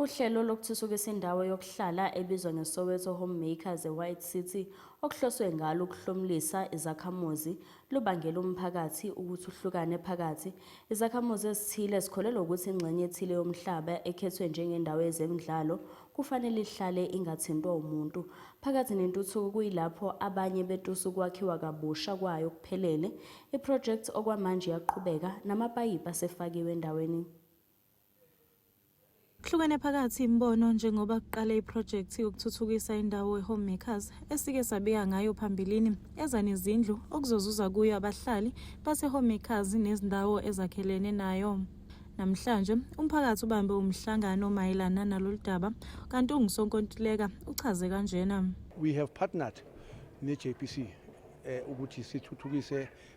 Uhlelo lokuthuthukisa indawo yokuhlala ebizwa ngeSoweto Home Makers eWhite City okuhloswe ngalo ukuhlomulisa izakhamuzi lubangele umphakathi ukuthi uhlukane phakathi. Izakhamuzi ezithile zikholelwa ukuthi ingxenye ethile yomhlaba ekhethwe njengendawo yezemidlalo kufanele ihlale ingathintwa umuntu. Phakathi nentuthuko kuyilapho abanye betusa ukwakhiwa kabusha kwayo okuphelele. Iphrojekthi okwamanje iyaqhubeka, namapayipi asefakiwe endaweni. Kuhlukene phakathi imibono njengoba kuqale iprojekthi yokuthuthukisa indawo e-Home Makers esike sabika ngayo phambilini eza nezindlu okuzozuza kuyo abahlali base-Home Makers nezindawo ezakhelene nayo. Namhlanje umphakathi ubambe umhlangano mayelana nalolu daba kanti ungusonkontileka uchaze kanjena. We have partnered ne-JPC eh, ukuthi sithuthukise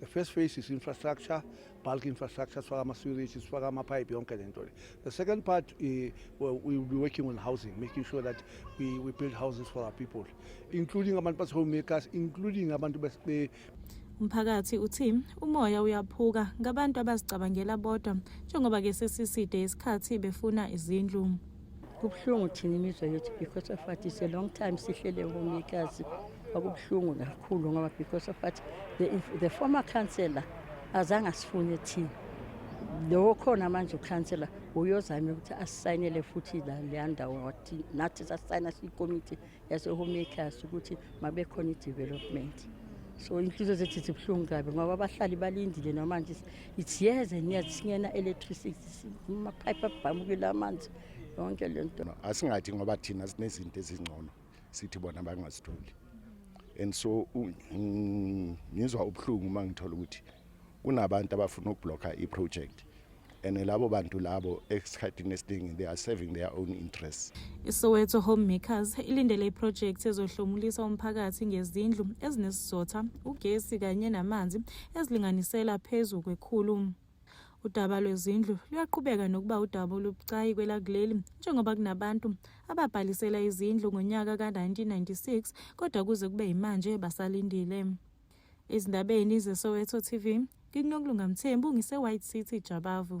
The first phase is infrastructure, bulk infrastructure, sifaka ama-sewerage, sifaka ama-pipe, yonke le nto le. The second part, uh, well, we will be working on housing, making sure that we, we build houses for our people, including abantu base-homemakers, including abantu base... Umphakathi uthi umoya uyaphuka ngabantu abazicabangela bodwa njengoba ke sesiside isikhathi befuna izindlu. Kubuhlungu thina imizwa yethu because of what is a long time sihlele ngomikazi kwakubuhlungu kakhulu ngoba because of what the, the former councillor azange asifune thina lowo khona manje ukhansela uyozame ukuthi asisayinele futhi leya ndawo nathi sasayina siyikomiti yasehome class ukuthi mabekhona i-development so inhliziyo zethu zibuhlungu kabi ngoba abahlali balindile namanje it's years and years singena electricity amaphayiphi abhamukile amanzi yonke le nto asingathi ngoba thina sinezinto ezingcono sithi bona bangazitholi and so ngizwa ubuhlungu uma ngithola ukuthi kunabantu abafuna ukubhlokha i-project and labo bantu labo esikhathini esiningi they are serving their own interests isoweto homemakers ilindele iprojekthi ezohlomulisa umphakathi ngezindlu ezinesizotha ugesi kanye namanzi ezilinganisela phezu kwekhulu udaba lwezindlu luyaqhubeka nokuba udaba olubucayi kwelakuleli njengoba kunabantu ababhalisela izindlu ngonyaka ka-1996 kodwa kuze kube yimanje basalindile Ezindabeni zeSoweto TV, ngikunokulunga Mthembu ngise-White City Jabavu.